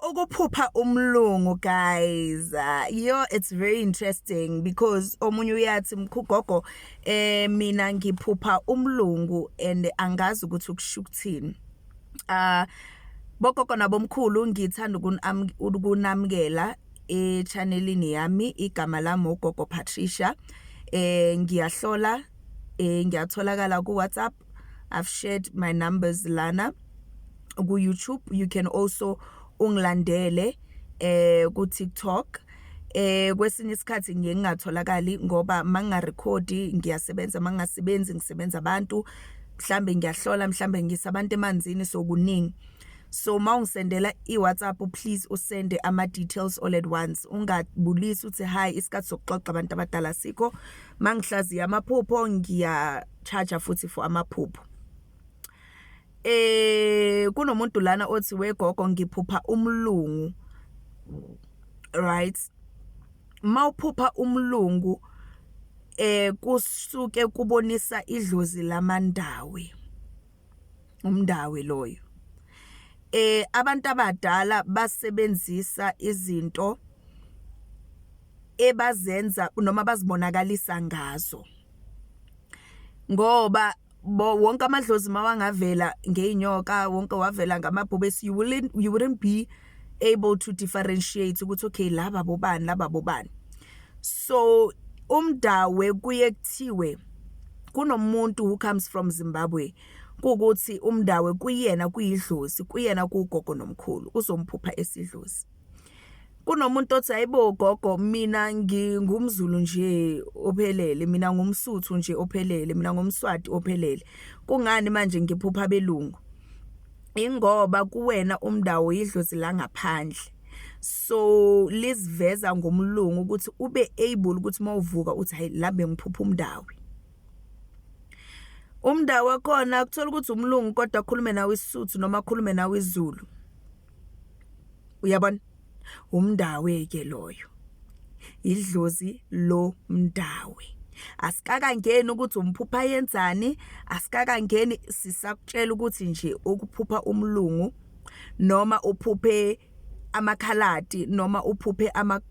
ukuphupha umlungu guys uh, yo it's very interesting because omunye uyathi mkhugogo eh mina ngiphupha umlungu and angazi ukuthi ukusho ukuthini uh bogogo nabomkhulu ngithanda ukunamukela echannelini yami igama lami ugogo Patricia eh ngiyahlola eh ngiyatholakala ku WhatsApp I've shared my numbers lana ku YouTube you can also ungilandele eh ku TikTok eh kwesinye isikhathi ngiye ngingatholakali ngoba mangingarecord ngiyasebenza mangingasebenzi ngisebenza abantu mhlambe ngiyahlola mhlambe ngisa abantu emanzini sokuningi so mawungisendela iWhatsApp please usende ama details all at once ungabulisi uthi hi isikhathi sokuxoxa abantu abadala sikho mangihlaziya amaphupho ngiya charger futhi for amaphupho eh kunomuntu lana othi wegogo ngiphupha umlungu right mawuphupha umlungu eh kusuke kubonisa idlozi lamandawe umndawe loyo eh abantu abadala basebenzisa izinto ebazenza noma bazibonakalisa ngazo ngoba wonke amadlozi mawangavela ngeinyoka wonke wavela ngamabhubesi you wouldn't you wouldn't be able to differentiate ukuthi okay laba bobani laba bobani so umdawe kuye kuthiwe kunomuntu who comes from Zimbabwe ukuthi umndawe kuyena kuyidlozi kuyena kugogo nomkhulu uzomphupha esidlozi kunomuntu othi hayibo gogo mina ngingumzulu nje ophelele mina ngumsuthu nje ophelele mina ngumswati ophelele kungani manje ngiphupha belungu ingoba kuwena umndawo yidlozi langaphandle so liziveza ngomlungu ukuthi ube able ukuthi mawuvuka uthi hayi la bengiphupha umndawo umndawo wakhona ukuthola ukuthi umlungu kodwa akhulume nawe isisuthu noma akhulume nawe izulu uyabona umndawe ke loyo idlozi lo mndawe asikakangeni ukuthi umphupha yenzani asikakangeni sisakutshela ukuthi nje ukuphupha umlungu noma uphuphe amakhaladi noma uphuphe ama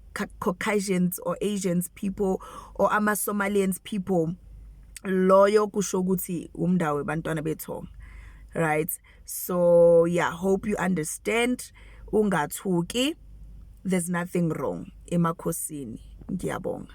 Caucasians or Asians people or ama Somalians people loyo kusho ukuthi umndawe bantwana bethonga right so yeah hope you understand ungathuki there's nothing wrong emakhosini ngiyabonga